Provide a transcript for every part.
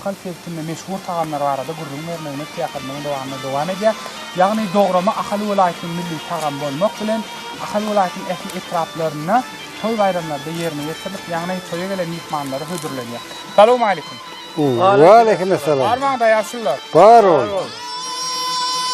Konsertinde meşhur tagamlar barada gürrüň bermegine syýahatynyň dowamyna dowam edýär. Ýagny dograma Ahal welaýatynyň milli tagamy bolmak bilen, Ahal welaýatynyň ähli etraplarynda toý-baýramlarda ýerine ýetirilip, ýagny toýa gelen myhmanlara hödürlenýär. Salowmaleýkim. Waleýkim essalam. Bar maňda ýaşulylar. Bar ol.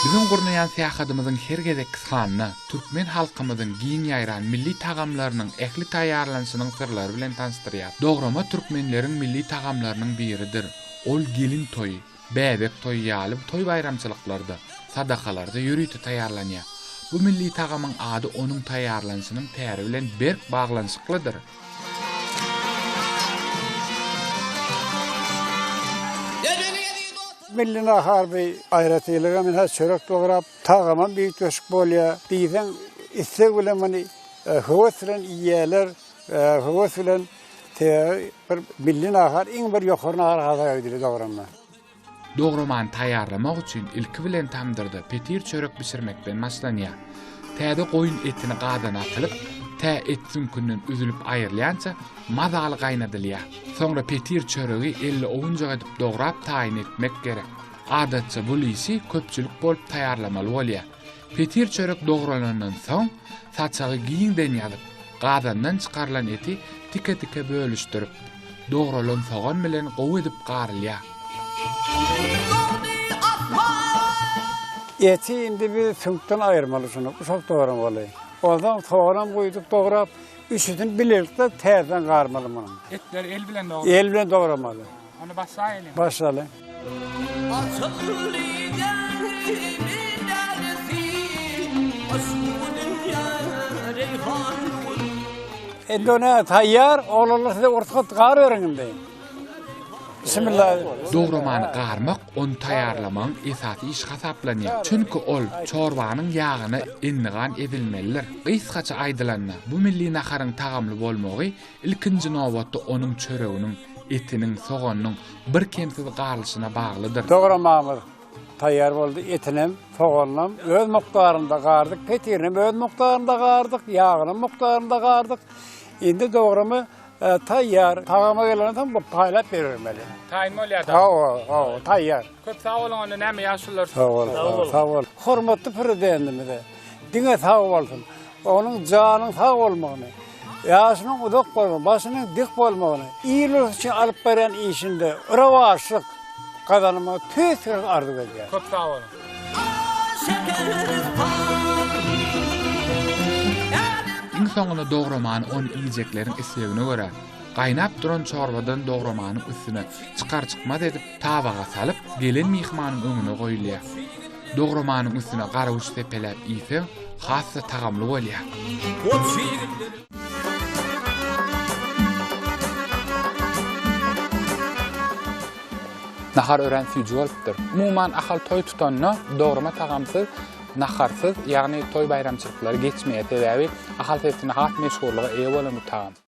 Biziň gurnaýan syýahatymyzyň her gezekki sanyna. türkmen halkymyzyň giň ýaýran milli tagamlarynyň ähli taýýarlanyşynyň syrlary bilen tanyşdyrýar. Dograma türkmenleriň milli tagamlarynyň biridir. Ol gelin toýy, bäbek toýy ýaly toý-baýramçylyklarda, sadakalarda ýörite taýýarlanýar. Bu milli tagamyň ady onuň taýýarlanyşynyň täri bilen berk baglanyşyklydyr. Milli nahar bir aýratynlyga men häzir çörek dograp, Tagamam üýtgeşik bolýar. Diýseň isleg bilen muny höwes bilen iýýärler, höwes bilen. Sebäbi bir milli nahar, iň bir ýokary nahar hasap edilýär dograma. Dogramany taýýarlamak üçin ilki bilen tamdyrda petir çörek bişirmekden başlanýar. Täze goýun etini gazana atylyp, tä et süňkünden üzülip aýrylýança mazaly gaýnadylýar. Soňra petir çöregi elli owunjak edip dograp taýyn etmek gerek. Adatça bu lisi köpçülik bolup taýýarlamaly bolýar. Petir çörek dogralandan soň, saçagy giňden ýazyp, gazandan çykarylan eti tike-tike bölüşdirip, dogralan sogan bilen gowy edip garylýar. Eti indi biz süňkden aýyrmaly şuny, guşak dogramaly. Onsoň soganam guýdup dograp, üçüsini bilelikde täzeden garmaly munuň. Etleri el bilen dogramaly. El bilen dogramaly. Ony başlaýylyň. Başlalyň. Indi ona taýýar, oglanlar size ursat gar beriň indi. Bismillah. Dogramany garmak ony taýýarlamagyň esasy işi hasaplanýar. Çünki ol çorbanyň ýagyna endigan edilmelidir. Gysgaça aýdylanda, bu milli naharyň tagamly bolmagy ilkinji nobatda onuň çöreginiň, etiniň, soganynyň birkemsiz galyşyna baglydyr. Dogramamyz taýýar boldy. Etinem, soganynam öz mukdarynda gardyk, petirinem öz mukdarynda gardyk, ýagynam mukdarynda gardyk. Indi dogramy taýýar. Tagama gelende soň bu paýlap berilmeli. Taýyn bolýar da. Hawa, hawa, taýýar. Köp sag boluň onda näme ýagşylar size. Sag boluň, sag boluň. Hormatly Prezidentimize diňe sag bolsun. Onuň janyň sag bolmagyny, ýaşynyň uzak bolmagyny, başynyň dik bolmagyny, il-ulus üçin alyp barýan işinde rowaçlyk gazanmagyny tüýs-tüýs arzuw edýärin. Köp sag boluň! Iň soňunda dogramany on iýjekleriň islegine görä, gaýnap duran çorbadan dogramanyň üstüne çykar-çykmaz edip tabaga salyp, gelen myhmanyň öňüne goýulýar. Dogramanyň üstüne garawuç sepeläp iýseň, has-da tagamly bolýar. Nahar örän süýji bolupdyr. Umuman, Ahal toý tutanda dograma tagamsyz, naharsyz, ýagny toý-baýramçylyklary geçmeýär. Sebäbi Ahal sebitinde has meşhurlyga eýe bolan bu tagam.